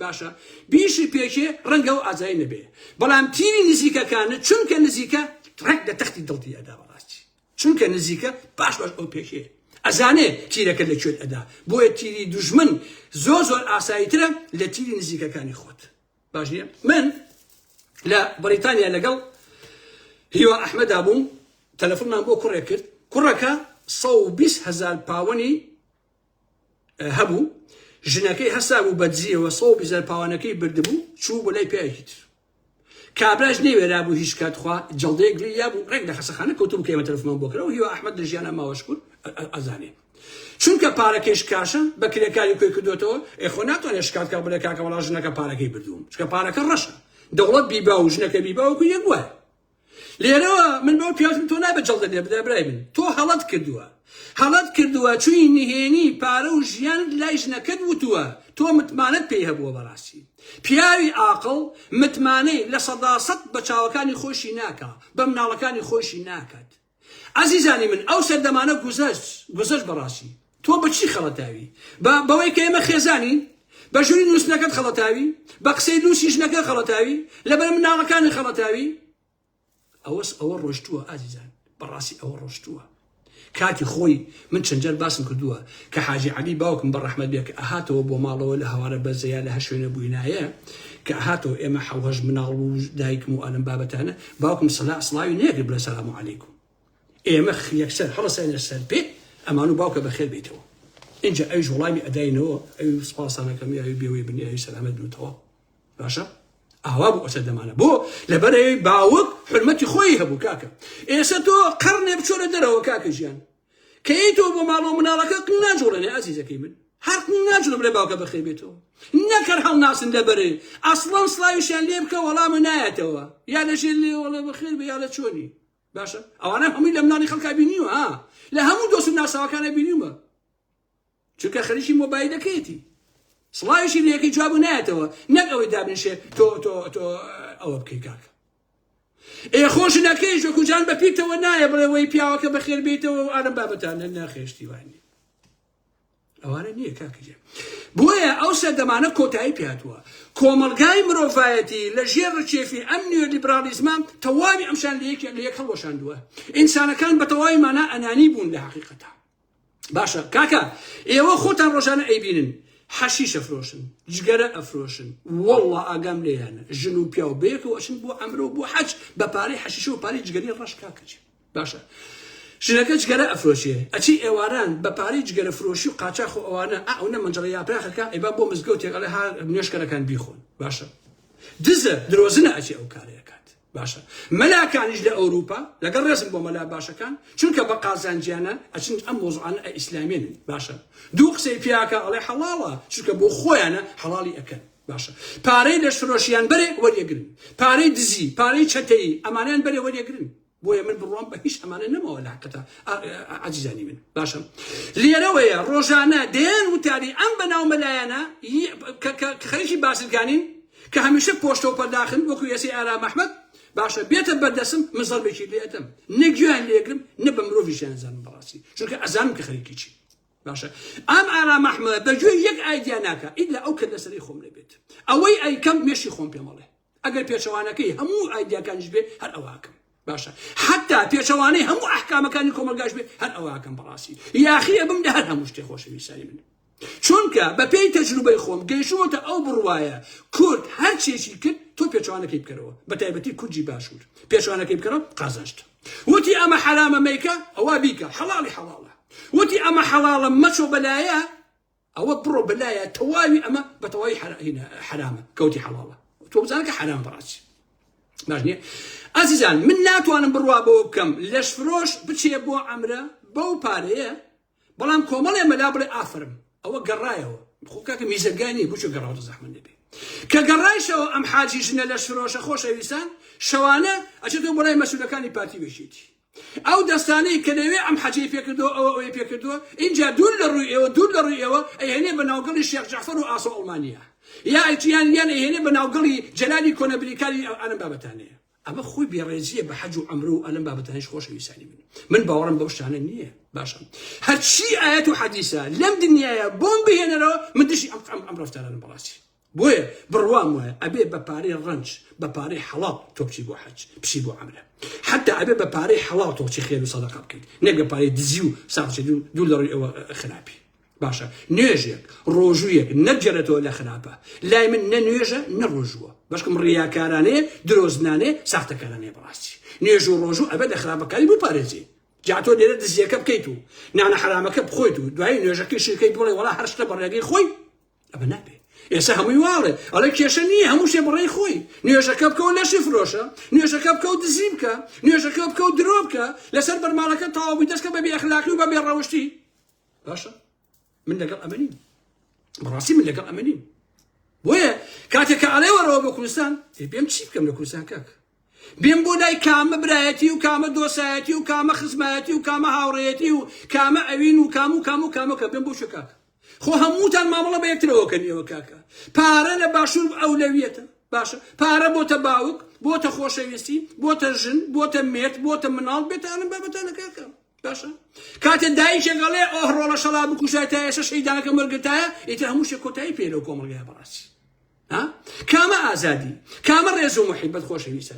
A: باشە بیشی پێچێ ڕەنگە و ئازای نەبێ بەڵام تیری نزیکەکانە چونکە نزیکە ڕێک لە تەختی دڵتی ئەدا بەڕاستی چونکە نزیکە پاش پاش ئەو پێشێ ئەزانێ تیرەکە لە کوێت ئەدا بۆیە تیری دوژمن زۆر زۆر ئاسایی ترە لە تیری نزیکەکانی خۆت باش نیە من لە بەریتانیا لەگەڵ هیوا ئەحمەدا بووم تەلەفۆنمان بۆ کوڕێ کرد کوڕەکە 120 هزار پاوەنی هەبوو ژنەکەی هەسا بوو بەدزیەوە 120 هزار پاوانەکەی بردبوو چوو بۆ لای پیاوێکی تر کابراش نەیوێرابوو هیچ کات خوا جەڵدەیەک گوێی یابوو ڕێک لە خەسەخانە کەوتبوو کە ئێمە تەلەفۆنمان بۆ کرا و هیوا ئەحمەد لە ژیانە ماوە شکور ئەزانێ چونکە پارەکەیش کاشە بە کرێکاری کۆی کردوێتەوە ئێخۆ ناتوانێت شکات کە بڵێ کاکە وەڵا ژنەکە پارەکەی بردووم چکە پارەکە ڕەشە دەوڵەت بیبا و ژنەکە بیباوەکو یەک وایە لێرەوە من بەو پیاوتم تۆ نابێت جەڵدە لێ بدە برای من تۆ هەڵەت کردووە هەڵەت کردووە چووی نهێنی پارە و ژیان لای ژنەکەت وتووە تۆ متمانەت پێی هەبووە بەڕاستی پیاوی ئاقڵ متمانەی لە سەدا سەد بە چاوەکانی خۆشی ناکا بە مناڵەکانی خۆشی ناکات ئەزیزانی من ئەو سەردەمانە گوزەشت گوزەشت بەڕاستی تۆ بە چی خەڵەتاوی؟ بە بەوەی کە ئێمە خێزانین؟ بە ژووری نووستنەکەت خەڵەتاوی؟ بە قسەی لووسی ژنەکە خەڵەتاوی؟ لەبەر مناڵەکانی خەڵەتاوی؟ ئەوەس ئەوە ڕۆشتووە ئازیزان بەڕاستی ئەوە ڕۆشتووە کاتی خۆی من چەند جار باسم کردووە کە حاجی عەلی باوکم بە ڕەحمەت بێ کە ئەهاتەوە بۆ ماڵەوە لە هەوارە بەرزە یا لە هەر شوێنە بووینایە کە ئەهاتەوە ئێمە حەو هەشت مناڵ و دایکم و ئەلەم بابەتانە باوکم سەلا سڵاوی نەیەکرد بڵێ سەلام عەلیکم ئێمە یەکسەر هەڵەساینە سەر پێ ئەمان و باوکە بەخێر بیتەوە ئینجا ئەویش وڵامی ئەداینەوە ئەوی سپاسانەکەم یاوی بێوەی بنێ ئەوی سەلامەت بن و تەواو باشە ئاوا بوو ئەسە دەمانە بۆ لەبەرەوەی باوک حرمەتی خۆی هەبوو کاکە ئێستا تۆ قڕنێ بچۆرە دەرەوە کاکە ژیان کەی تۆ بۆ ماڵۆ مناڵەکە ناجوڵێنێ ئازیزەکەی من هەر ناجوڵم لە باوکە بەخێ بێتەوە نەکەر هەڵ ناسن دەبەرێ ئەسڵان سلاویشیان لێ بکە وەڵامە نایەتەوە یا لەژێ لێوەڵە بەخێر بە یا لە چۆنی باشە ئەوانە هەمووی لە مناڵی خەڵکا بینیوە لە هەموو دۆست ناساوەکانە بینیومە چونکە خەریکی مۆبایلەکەیەتی سڵاویشی لەکەی جواب نایەتەوە نەک ئەوەی دابنشێ تۆ تۆ تۆ ئەوە بکەی کاکە ئێ خۆش نەکەی ژۆکوجان بە پیتەوە نایە بڵێەوەی پیاوەکە بەخێر بیتەوە و ئارم بابەتانە ناخێشتی وانی ئەوانە نییە کاکجێ بۆیە ئەو سەردەمانە کۆتایی پیاتوە کۆمەلگای مرۆڤایەتی لە ژێر ڕچێفی ئەم نیوە لیبرالیزمان تەواوی ئەمشان لە یەکێک لە یەک هەڵۆشاندووە ئینسانەکان بە تەواوی مانا ئەنانی بوون لە حقیقەتە باشە کاکە ئێوە خۆتان ڕۆژانە ئەیبینن حەشیشە فرۆشن جگەرە ئەفرۆشن وەڵا ئاگام لێیانە ژن و پیاو بێت و ئەشن بۆ ئەمرۆ بۆ حەج بە پارەی حەشیشە و پارەی جگەری ڕەش کاکەچ باشە ژنەکە جگەرە ئەفرۆشێ ئەچی ئێواران بە پارەی جگەرە فرۆشی و قاچاخ و ئەوانە ئەو نە منجڕی یاپراخەکە ئەیبا بۆ مزگەوتێک ئەڵێ ها نوێشکەرەکان بیخۆن باشە دزە درۆزنە ئەچی ئەو کارەکە باشە مەلاکانیش لە ئەوروپا لەگەڵ ڕێزم بۆ مەلا باشەکان چونکە بە قازانجیانە ئەچن ئەم مۆزوعانە ئەئیسلامیێنن باشە دوو قسەی پیاکە ئەڵێ حەڵاڵە چونکە بۆ خۆیانە حەڵاڵی ئەکەن باشە پارەی لەشفرۆشیان بەرێ وەریەگرن پارەی دزی پارەی چەتەیی ئەمانیان بەرێ وەریەگرن بۆیە من بڕوام بە هیچ ئەمانە نەمەوە لە حقەتە عزیزانی من باشم لێرەوەیە ڕۆژانە دێن وتاری ئەم بەناو مەلایەنە خەریکی بازرگانین کە هەمیشە پۆشتەو پەرداخن وەکو یەسەی ئارام ئەحمەد، باشە بێتە بەردەسم من زەربێکی لێ ئەدەم نە گوێیان لێ ئەگرم نە بە مرۆڤیشیان ئەزانم بەڕاستی چونکە ئەزانم کە خەریکی چین. باشە ئام ئارام ئەحمەد بە گوێی یەک ئایدیا ناکا ئیلا ئەو کەللەسەرەی خۆم نەبێت ئەوەی ئەیکەم مێشی خۆم پێم ئەڵێ ئەگەر پێچەوانەکەی هەموو ئایدیاکانیش بێ هەر ئەوە ئەکەم. باشە حتا پێچەوانەی هەموو ئەحکامەکانی کۆمەلگاش بێ هەر ئەوەکەم بەڕاستی یاخی ئەبم لە هەر هەموو شتێ خۆشەویستانی من چونکە بەپێی تەجروبەی خۆم گەیشتمەتە ئەو بڕواایە کورد هەرچێکی کرد تۆ پێچوانەکەی بکەرەوە بە تایبەتی کوردی باشوور پێچوانەکەی بکەرەوە قازانشت وتی ئەمە حرامە مەیکە ئەوە بیکە حەڵی حەڵاڵە وتی ئەمە حەڵاڵە مەچۆ بەلایە ئەوە بڕۆ بەلایە تەواوی ئەمە بەتەواوی حەرامە کەوتی حەڵاڵە تۆ بزانە کە حەرام بڕاچ باش نییە ئازیزان من ناتوانم بڕوا بەوە بکەم لەش فرۆش بچێ بۆ ئەمرە بەو پارەیە بەڵام کۆمەڵێ مەلا بڵێ ئافرم ئەوە گەڕایەوە خۆکاکە میزەگانی بچ گەڕاوە زەحمە نەبێ کە گەڕایشەوە ئەم حاجی ژنە لە شرۆشە خۆشەویستان شەوانە ئەچێتەوە بەڵای مەسولەکانی پارتی بێژێتی ئەو دەستانەی کە لەوێ ئەم حەجەی پێ کردووە، ئەوە ئەوەی پێ کردووە، ئینجا دوور لە ڕووی ئێوە، دوور لە ڕووی ئێوە، ئەیهێنێ بە ناوگەڵی شێخ جەعفەر و ئاسۆ ئەڵمانییە. یا یان یان ئەیهێنێ بە ناوگەڵی جەلالی کۆنە بریکاری ئە ئەم بابەتانەیە. ئەمە خۆی بێڕێزییە بە حەج و عەمرە و ئەم بابەتانەیش خۆشەویستانی من. من باوەڕم بەو شتانە نییە. باشە. هەرچی ئایەت و حەدیسە لەم دنیایە بۆم بهێنەرەوە، من دژی ئەم ئەم ئەم ڕەفتارانەم بەڕاستی. بۆیە بڕوام وایە ئەبێ بە پارەی ڕەنج بە پارەی حەڵاڵ تۆ بچی بۆ حەج بچی بۆ عەمرە حەتا ئەبێ بە پارەی حەڵاڵ تۆ بچی خێر و سەدەقە بکەیت نەک بە پارەی دزی و ساقچی دوو دوور لە ڕووی ئەوە خراپی باشە نوێژێک ڕۆژوویەک نەبجێرێتەوە لە خراپە لای من نە نوێژە نە ڕۆژووە بەشکم ڕیاکارانەیە درۆزنانێ ساختەکارانەیە بەڕاستی نوێژ و ڕۆژوو ئەبێت لە خراپەکاری بپارێزی جاتۆ لێرە دزیەکە بکەیت و نانە حرامەکە بخۆیت و دوای نوێژەکەی شیرکەی بڵێ وڵا هەرشتە بەڕێگەی خۆی ئەمە نابێ ئێستا هەمووی واڵێ ئەڵێ کێشە نییە هەموو شتێ بەڕێی خۆی نوێژەکە بکەوە لەشی فرۆشە نوێژەکە بکە و دزی بکە نوێژەکە بکە و درۆ بکە لەسەر بەرماڵەکە تەواوی دەستکە بە بێخلاقی و بە بێڕەوشتی باشە من لەگەڵ ئەمەنیم بەڕاستی من لەگەڵ ئەمەنیم بۆیە کاتێک کە ئەڵێ وەڕەوە بە کوردستان بێم چی بکەم لە کوردستان کاک بێم بۆ لای کامە برایەتی و کامە دۆسایەتی و کامە خزمایەتی و کامە هاوڕێتی و کامە ئەوین و کام و کام و کامەکە بێم بۆ شکاکە خۆ هەمووتان مامەڵە بە یەکترەوە کەنیەوە کاکە پارە لە باشوور ئەولەویەتە باشە پارە بۆتە باوک بۆتە خۆشەویستی بۆتە ژن بۆتە مێرد بۆتە مناڵ بێتانم بابەتانە کاکە باشە کاتێ دایکێک گەڵێ ئۆه ڕۆڵە شەڵا بکوژای تا ئێستا شەیدانەکە مەرگتایە ئیتر هەموو شێ کۆتایی پێ لەو کۆمەڵگای بەڕاستی کامە ئازادی کامە ڕێز و محیبەت خۆشەویستە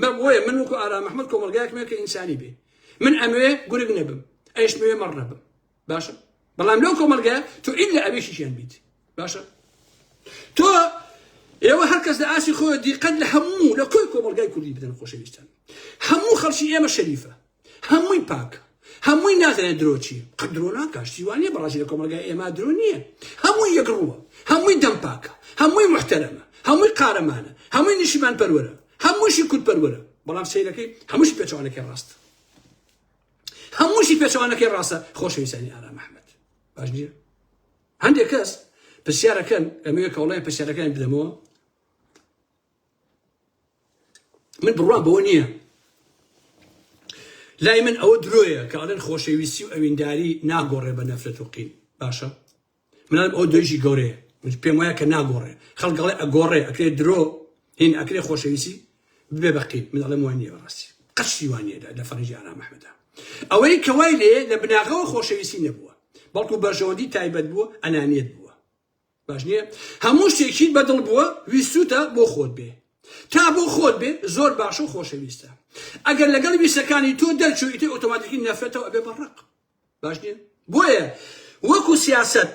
A: بەم هۆیە من وەکو ئارام ئەحمەد کۆمەڵگایەکم هەیە کە ئینسانی بێ من ئەمەوێ گورگ نەبم ئەیشمەوێ مەڕ نەبم باشە بەڵام لەو کۆمەلگایە تو ئیل لە ئەوێ شیشیان بیت باشە تۆ ئێوە هەرکەس لە ئاسی خۆ دیقەت لە هەموو لە کۆی کۆمەلگای کوردی بدەن خۆشەویستان هەموو خەڵکی ئێمە شەریفە هەمووی پاکە هەمووی نازانێت درۆ چی قەت درۆ ناکا شتی وانە بەڕاستی لە کۆمەلگای ئێمە درۆ نییە هەمووی یەک ڕووە هەمووی دەم پاکە هەمووی محتەرەمە هەمووی قارەمانە هەمووی نیشیمان پەروەرە هەمووشی کورد پەروەرە بەڵام سیرەکەی هەمووشی پێچوانەکەی ڕاست هەمووشی پێچوانەکەی ڕاستە خۆشەویستانی ئارام ئەحمەد باش نییە هەندێک کەس پرسیارەکەن ئەمەیە کەڵێن پرسیارەکان بدەمەوە من بڕوام بەوە نییە لای من ئەوە درۆیە کە ئەڵێن خۆشەویستی و ئەوینداری ناگۆڕێ بە نەفرەت و قین باشە منم ئەو دۆژی گەورەیە پێم وایە کە ناگۆڕێ خەڵگەڵێ ئەگۆڕێ ئەکرێ درۆ هین ئەکرێ خۆشەویستی بێ بەقین من ئەڵێم وان نیە بەڕاستی قەشی وانە لە فەرجی ئارام ئەحمەدا ئەوەی کەوای لێ لە بناغەوە خۆشەویستی نەبووە بەڵکو بەرژەوەندی تایبەت بووە ئەنانیت بووە باش نیە هەموو شتێکیت بەدڵ بووە ویستوتە بۆ خۆت بێ تا بۆ خۆت بێ زۆر باشە و خۆشەویستە ئەگەر لەگەڵ ویستەکانی تۆ دەرچوو ئیتر ئۆتۆماتیکی نەفرەتەوە ئەبێ بە ڕق باش نیە بۆیە وەکو سیاسەت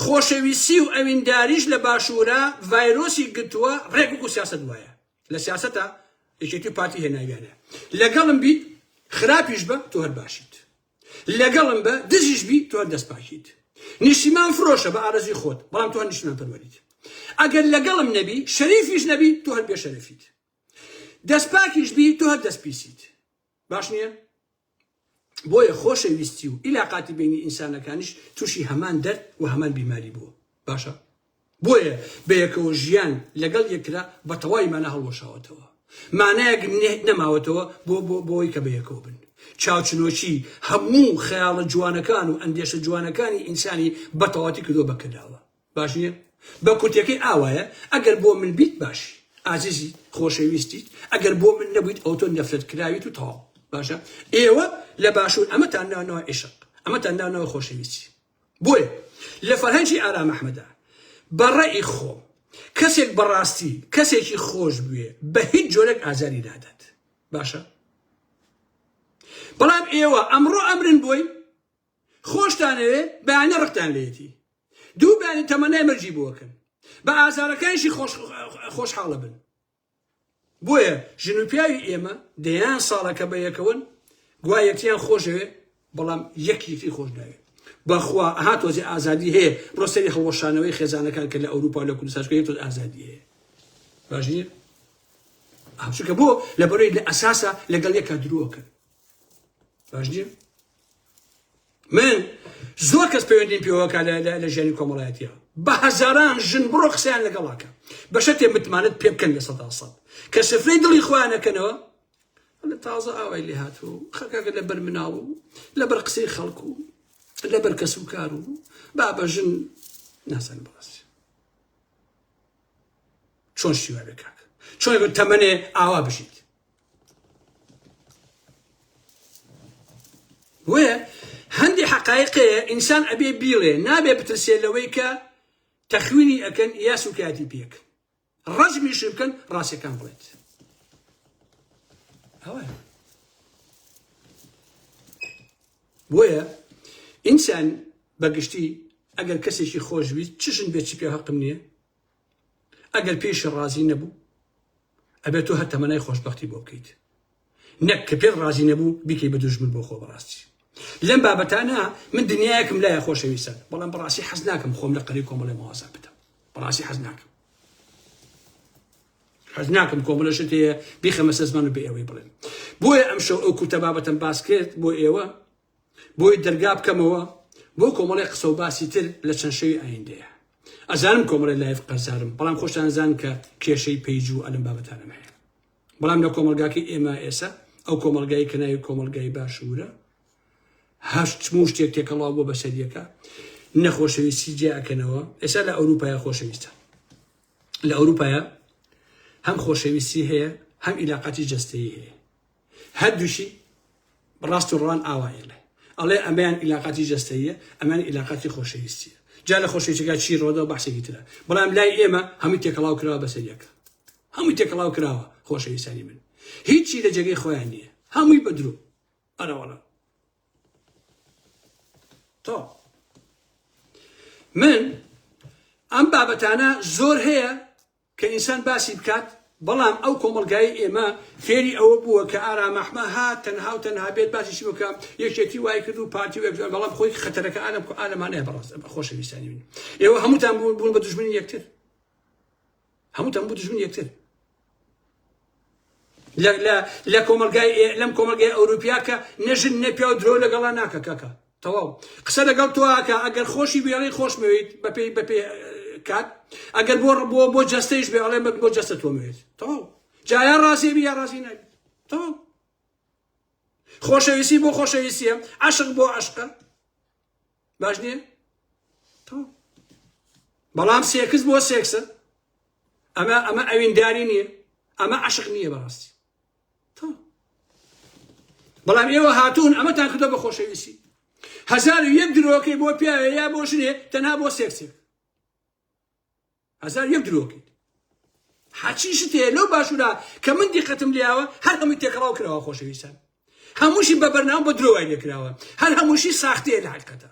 A: خۆشەویستی و ئەوینداریش لە باشوورە ڤایرۆسی گرتووە ڕێک وەکو سیاسەت وایە لە سیاسەتە یەکێتی پارتی هێناویانە لەگەڵم بیت خراپیش بە تۆ هەر باشیت لەگەڵم بە دژیش بی تۆ دەست پاکیت نیشتیمان فرۆشە بە ئارەزوی خۆت بەڵام تۆ نیشتمان پەروەریت ئەگەر لەگەڵم نەبی شەریفیش نەبی تۆ هەر بێ شەرەفیت دەست پاکیش بی تۆ هەر دەست پیسیت باش نییە بۆیە خۆشەویستی و ئیلاقاتی بینی ئینسانەکانیش تووشی هەمان دەرد و هەمان بیماری بووە باشە بۆیە بەیەکەوە ژیان لەگەڵ یەکترا بەتەواوی مانا هەڵوەشاوەتەوە، مانایەک نەماوەتەوە بۆ بۆی کە بەیەکەوە بن. چاوچنۆکی هەموو خەیاڵە جوانەکان و ئەندێشە جوانەکانی ئینسانی بەتەواوەتی کردووە بە کەداوە. باش نییە؟ بە کورتییەکەی ئاوایە، ئەگەر بۆ من بیت باشی، ئازیزیت، خۆشەویستیت، ئەگەر بۆ من نەبوویت ئەوە تۆ نەفرەتکراویت و تەواو. باشە ئێوە لە باشوور ئەمەتان ناوناوە عیشق، ئەمەتان ناوناوە خۆشەویستی. بۆیە لە فەرهەنگی ئارام ئەحمەدا بە ڕەئی خۆم کەسێک بە ڕاستی کەسێکی خۆش بوێ بە هیچ جۆرێک ئازاری نادات باشە بەڵام ئێوە ئەمڕۆ ئەمرن بۆی خۆشتانەوێ بەیانە ڕقتان لێتی دوو بانی تەمەنای مەرجی بووەکەن بە ئازارەکانشی خۆش خۆشحاڵە بن بۆیە ژن و پیاوی ئێمە دەیان ساڵە کە بەیەکەوەن گوا یەکتیان خۆشەوێ بەڵام یەک یەکتری خۆش ناوێ بەخوا ها تۆزی ئازادی هەیە بڕۆ سەری هەڵوەشانەوەی خێزانەکان کە لە ئەوروپا و لە کوردستانشکە یەک تۆز ئازادی هەیە باش نییە ئاچکە بۆ لە بەرەی لە ئەساسە لەگەڵ یەکە درۆکە باش نییە من زۆر کەس پەیوەندیم پێوەکە لە ژیانی کۆمەڵایەتیە بە هەزاران ژن بڕۆ قسەیان لەگەڵاکە بەشە تێ متمانت پێ بکەن لە سەدا سەد کە سفرەی دڵی خۆیانەکەنەوە لە تازە ئاوای لێ هاتوو خەکەکە لە بەر مناڵ و لە بەر قسەی خەڵک و لە بەر کەس و کار و با بە ژن ناسان بەڕاست چۆن شیوا بێ کاک چۆن تەمەێ ئاوا بژیت بۆیە هەندێک حقایقەیە ئینسان ئەبێ بیڵێ نابێ بترسێ لەوەی کە تەخوینی ئەکەن یا سوکایەتی پێک ڕەجمیشی بکەن ڕاستەکان بڵێت ئەوە بۆیە ئینسان بەگشتی ئەگەر کەسێکی خۆشویست چشن بێت چ پێ هەقم نییە ئەگەر پێیشی ڕازی نەبوو ئەبێت تۆ هەر تەمەنای خۆشبەختی بۆ بکەیت نەک کە پێت ڕازی نەبوو بیکەی بە دوژمن بۆ خۆ بەڕاستی لەم بابەتانە من دنیایەکم لای خۆشەویستە بەڵام بەڕاستی حەز ناکەم خۆم لە قەری کۆمەڵی مەوازە بدەم بەڕاستی حەز ناکەم حەز ناکەم کۆمەلە شت هەیە بیخەمەسە زمان و بە ئێوەی بڵێن بۆیە ئەم شەو ئەو کورتە بابەتم باس کرد بۆ ئێوە بۆی دەرگا بکەمەوە بۆ کۆمەڵێ قسە و باسی تر لە چەند شەوی ئایندەیە ئەزانم کۆمەڵی لایف قەرزارم بەڵام خۆشتان زان کە کێشەی پەیج و ئەلم بابەتانم هەیە بەڵام لە کۆمەلگاکەی ئێمە ئێسە ئەو کۆمەلگای کەناوی کۆمەلگای باشوورە هەشت موو شتێک تێکەڵاو بۆ بەسەریەکە نەخۆشەویستی جیاکەنەوە ئێستا لە ئەوروپای خۆشەویستە لە ئەوروپایە هەم خۆشەویستی هەیە هەم ئیلاقاتی جستەی هەیە هەردووشی ڕاست و ڕوان ئاوا ئێڵێ ئەڵێ ئەمەیان ئیلاقاتی جەستەیە ئەمان ئیلاقاتی خۆشەویستیە جا لە خۆشەویستەکە چی ڕۆدەوە بەحسێکی ترە بەڵام لای ئێمە هەمووی تێکەڵاو کراوە بەسەر یەک هەمووی تێکەڵاو کراوە خۆشەویستانی من هیچی لە جێگەی خۆیان نییە هەمووی بەدرو ئەرەوەڵە تۆ من ئەم بابەتانە زۆر هەیە کە ئینسان باسی بکات، بەڵام ئەو کۆمەڵگایەی ئێمە فێری ئەوە بووە کە ئارام ئەحمە ها تەنها و تەنها بێت باسیشی بکا، یەکێتی وای کرد و پارتی و یەکجار، بەڵام خۆی خەتەرەکە ئالم ئالمانەیە بەڕاست خۆشەویستانی من. ئێوە هەمووتان بوون بە دوژمنی یەکتر. هەمووتان بوون دوژمنی یەکتر. لە کۆمەلگای لەم کۆمەلگای ئەوروپیا کە نەژن نەپیاو درۆ لەگەڵا ناکە کەکە تەواو قسە لەگەڵ تۆکە ئەگەر خۆشی بێڵی خۆشمەوێت بەپی بەپێ کات ئەگەر بۆ بۆ بۆ جەستەیش بێ ئەڵێ بەک بۆ جەستە تۆمەوێت تەواو جایان ڕازێبی یا ڕازی نابێت تەواو خۆشەویستی بۆ خۆشەویستیە عشق بۆ عشقە باش نییە بەڵام سێکس بۆ سێکسە ئەمە ئەمە ئەوینداری نییە ئەمە عشق نییە بەڕاستی بەڵام ئێوە هاتوون ئەمەتان کردە بە خۆشەویستی هەزار و یەک درۆکەی بۆ پیاوێ یا بۆ ژنێ تەنها بۆ سێکسێک هەزار یەک درۆکەیت حەچی شت هەیە لەو باشوورە کە من دیقەتم لێیاوە هەر هەمووی تێکەڵاو کراوە خۆشەویستان هەمووشی بە بەرناو بە درۆوای لێکراوە هەر هەمووشی ساختەیە لە حقیقەتە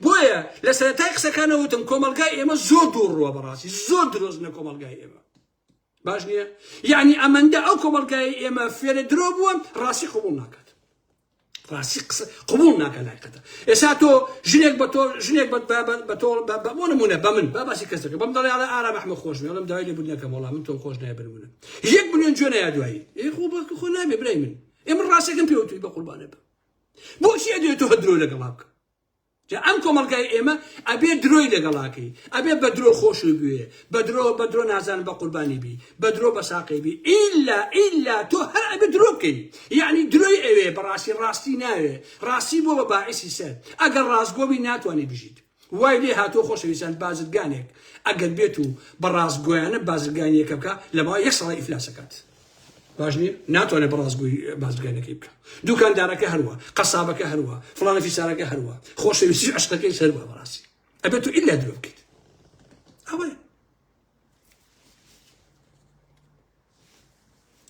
A: بۆیە لە سەرەتای قسەکانەوتم کۆمەلگای ئێمە زۆر دوو ڕووە بەڕاستی زۆر درۆزنە کۆمەلگای ئێمە باش نییە یعنی ئەمەندە ئەو کۆمەلگای ئێمە فێرە درۆ بووە ڕاستی قوبول ناکات ڕاستی قسە قوبول ناکە لای قەتە ئێستا تۆ ژنێک بە تۆ ژنێک بە تۆ بۆ نمونە بە من با باسی کەسەکە بەم دەڵێ ئاڵە ئارا بەحمە خۆش مێڵم داوای لێ بودنەکەم وڵام من تۆم خۆش نای بنمونە یەک بنێن جوێن یا دوایی ئێ خۆ بەکە خۆ نابێ برای من ئێمە ڕاستەکەم پێوتوی بە قوربانە بە بۆچی ئەدوێت تۆ هەدرۆ لەگەڵا بکە جا ئەم کۆمەڵگای ئێمە ئەبێ درۆی لەگەڵا کەی ئەبێ بە درۆ خۆشوی بوێ بە درۆ بە درۆ نازانم بە قوربانی بی بە درۆ بە ساقەی بی ئیلا ئیلا تۆ هەر ئەبێ درۆ بکەی یەعنی درۆی ئەوێ بەڕاستی ڕاستی ناوێ ڕاستی بووە بە باعیسی سەر ئەگەر ڕاستگۆ بی ناتوانێ بژیت وای لێ هاتووە خۆشەویستان بازرگانێک ئەگەر بێت و بە ڕاستگۆیانە بازرگانیەکە بکا لە ماوەی یەک ساڵا ئیفلاسەکات باش نییە ناتوانێت بەڕاستگوی بازرگانەکەی بکە دوکاندارەکە هەروە قەسابەکە هەروە فلانە فیسارەکە هەروە خۆشەویستی عشقەکەی سەروە بەڕاستی ئەبێت تو ئللا درۆ بکەیت ئەوەیە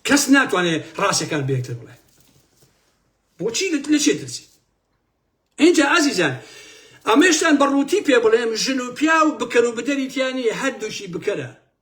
A: کەس ناتوانێت ڕاستەکان بێکتر بڵێ بۆچی لە چێ ترسی اینجا ئازیزان ئەمەشتان بە ڕووتی پێ بڵێم ژن و پیا و بکەر و بدەریتیانی هەردووشی بکەرە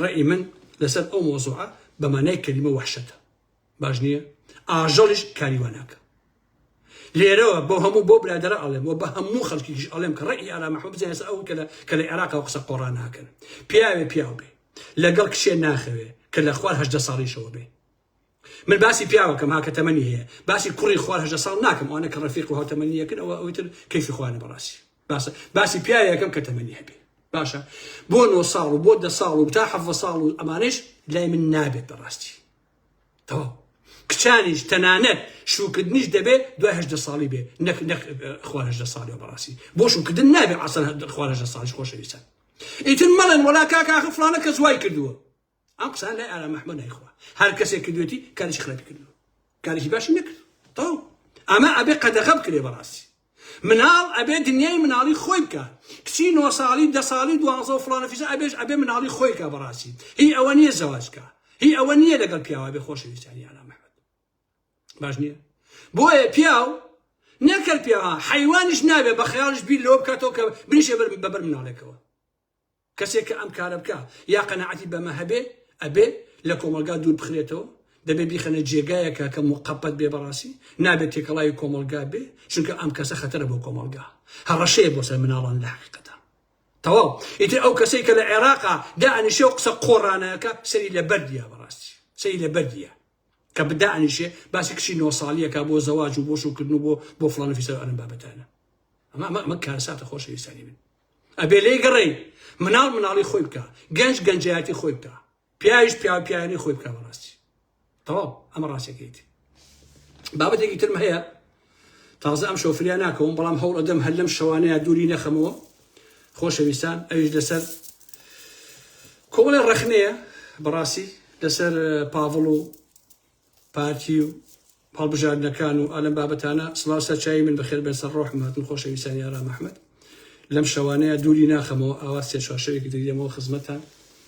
A: ڕەئی من لەسەر ئەو مەوزوعە بە مانای کەلیمە وەحشەتە باش نییە ئاژەڵیش کاری وا ناکا لێرەوە بۆ هەموو بۆ برادەرە ئەڵێم و بە هەموو خەڵکیش ئەڵێم کە ڕەئی ئارا محمود بزانێ ئێستا ئەو کە لە کە لە عێراقەوە قسە قۆڕا ناکەن پیاوێ پیاو بێ لەگەڵ کچێ ناخەوێ کە لە خوار هەژدە ساڵیشەوە بێ من باسی پیاوەکەم ها کە تەمەنی هەیە باسی کوڕی خوار هەژدە ساڵ ناکەم ئەوانە کە ڕەفیق و هاوتەمەنی یەکن ئەوە ئەوی تر کەیفی خۆیانە بەڕاستی باسە باسی پیاوێکم کە تەمەنی هەبێ باشە بۆ نۆ ساڵ و بۆ دە ساڵ و تا حەڤە ساڵ و ئەمانش لای من نابێت بەڕاستی تەواو کچانیش تەنانەت شوکردنیش دەبێت دوای هەدە ساڵی بێ نەک نەک خوارهدە ساڵی و بەڕاستی بۆ شوکردن نابێت ئاسان خوارهدە ساڵش خۆشەویستە ئیتر مەڵێن وەلا کاکاخ فلانە کە زوای کردووە ئەم قسان لای ئارام احمد نایخوا هەر کەسێک کردوێتی کارێکی خراپی کردو کارێکی باشی نەکرد تەواو ئەمە ئەبێ قەدەغە بکرێ بەڕاستی مناڵ ئەبێ دنیای مناڵی خۆی بکە کچی نۆ ساڵی دە ساڵی دوازە و فلانە فیزە ئەبێش ئەبێ مناڵی خۆی کا بەڕاستی هی ئەوە نییە زەواجکە هی ئەوە نییە لەگەڵ پیاوە بێ خۆشەویستانی ئارام احمد باش نییە بۆیە پیاو نەکرد پیاوە حیوانش نابێ بە خەیاڵش بیر لەوە بکاتەوە کە بریشێ بەبەر مناڵێکەوە کەسێک کە ئەم کارە بکا یا قەناعەتی بەمە هەبێ ئەبێ لە کۆمەڵگا دوور بخرێتەوە، دەبێ بیخەنە جێگایەکا کە موقەپەت بێ بەڕاسی نابێ تێکەڵاوی کۆمەڵگا بێ چونکە ئەم کەسە خەتەرە بۆ کۆمەڵگا هەڕەشەیە بۆ سەر مناڵان لە حەقیقەتا تەواو ئیتر ئەو کەسەی کە لە عێراقا دائەنیشێ و قسە قۆڕانە ئەکا سەری لە بەردیا بەڕاستی سەری لە بەردیا کە بدائەنیشێ باسی کچی نۆ ساڵی ئەکا بۆ زەواج و بۆ شوکردن و بۆ بۆ فڵان و فیسار ئەم بابەتانە ئەمە ئەمە ئەمە کارەساتە خۆشەویستانی من ئەبێ لێی گەڕێی مناڵ مناڵی خۆی بکە گەنج گەنجایەتی خۆی بکە پیاویش پیاو پیاوی خۆی بکە بەڕاستی تەواو ئەمە ڕاستەکەیتی بابەتێکی ترم هەیە تازە ئەم شۆفریا ناکەوم بەڵام هەوڵ ئەدەم هەر لەم شەوانەیە دووری نەخەمەوە خۆشەویستان ئەویش لەسەر کۆڵێ ڕەخنەیە بەڕاستی لەسەر پاڤڵ و پارتی و هەڵبژاردنەکان و ئالەم بابەتانە سڵاو سەرچوی من بەخێر بێن سەر ڕۆحم هاتن خۆشەویستانی ئارام ئەحمەد لەم شەوانەیە دووری ناخەمەوە ئاوا سێ چوار شەوێکی تر دێمەوە خزمەتان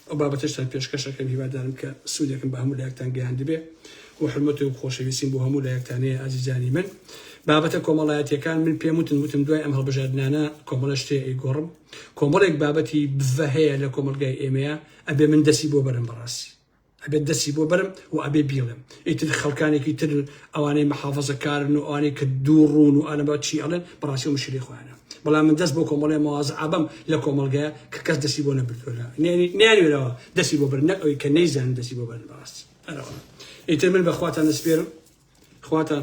A: ئەو بابەتەشتان پێشکەشەکەم هیوادارم کە سوودێکم بە هەموو لایەکتان گەیاندبێ و حرمەت و خۆشەویستیم بۆ هەموو لایەکتان هەیە ئازیزانی من بابەتە کۆمەڵایەتیەکان من پێم وتن وتم دوای ئەم هەڵبژاردنانە کۆمەڵە شتێ ئەیگۆڕم کۆمەڵێک بابەتی بڤە هەیە لە کۆمەلگای ئێمەیە ئەبێ من دەسی بۆ بەرم بەڕاستی ئەبێ دەستی بۆ بەرم و ئەبێ بیڵێم ئیتر خەڵکانێکی تر ئەوانەی محافەزەکارن و ئەوانەی کە دوو ڕوون و ئالەبا چی ئەڵێن بەڕاستی مشکلی خۆیانە بەڵام من دەست بۆ کۆمەڵێ مەوازە ئابەم لە کۆمەڵگەیە کە کەس دەستی بۆ نەبردوە لە نیانوێرەوە دەستی بۆ بەر نەک ئەوی کە نەیزان دەستی بۆ بەرن بەڕاستی ئەرەوە ئیتر من بە خواتان دەسپێرم خواتان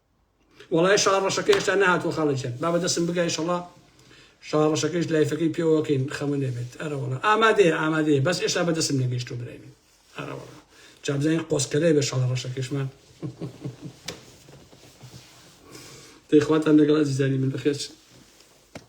A: وەڵای شەڕە ڕەشەکە هێشتا نەهاتووە خاڵە گیان با بەدەستم بگا ئیشەڵا شەڕە ڕەشەکەیش لایفەکەی پێوەکەین خەمە نەبێت ئەرەوەڵا ئامادەیە ئامادەیە بەس ئێشتا بەدەستم نەگەیشتو برای من ئەرەوەڵا جابزانین قۆسکەلەیە بە شەڕە ڕەشەکەشمان دەیخواتان لەگەڵ ئەزیزانی من بەخێرچن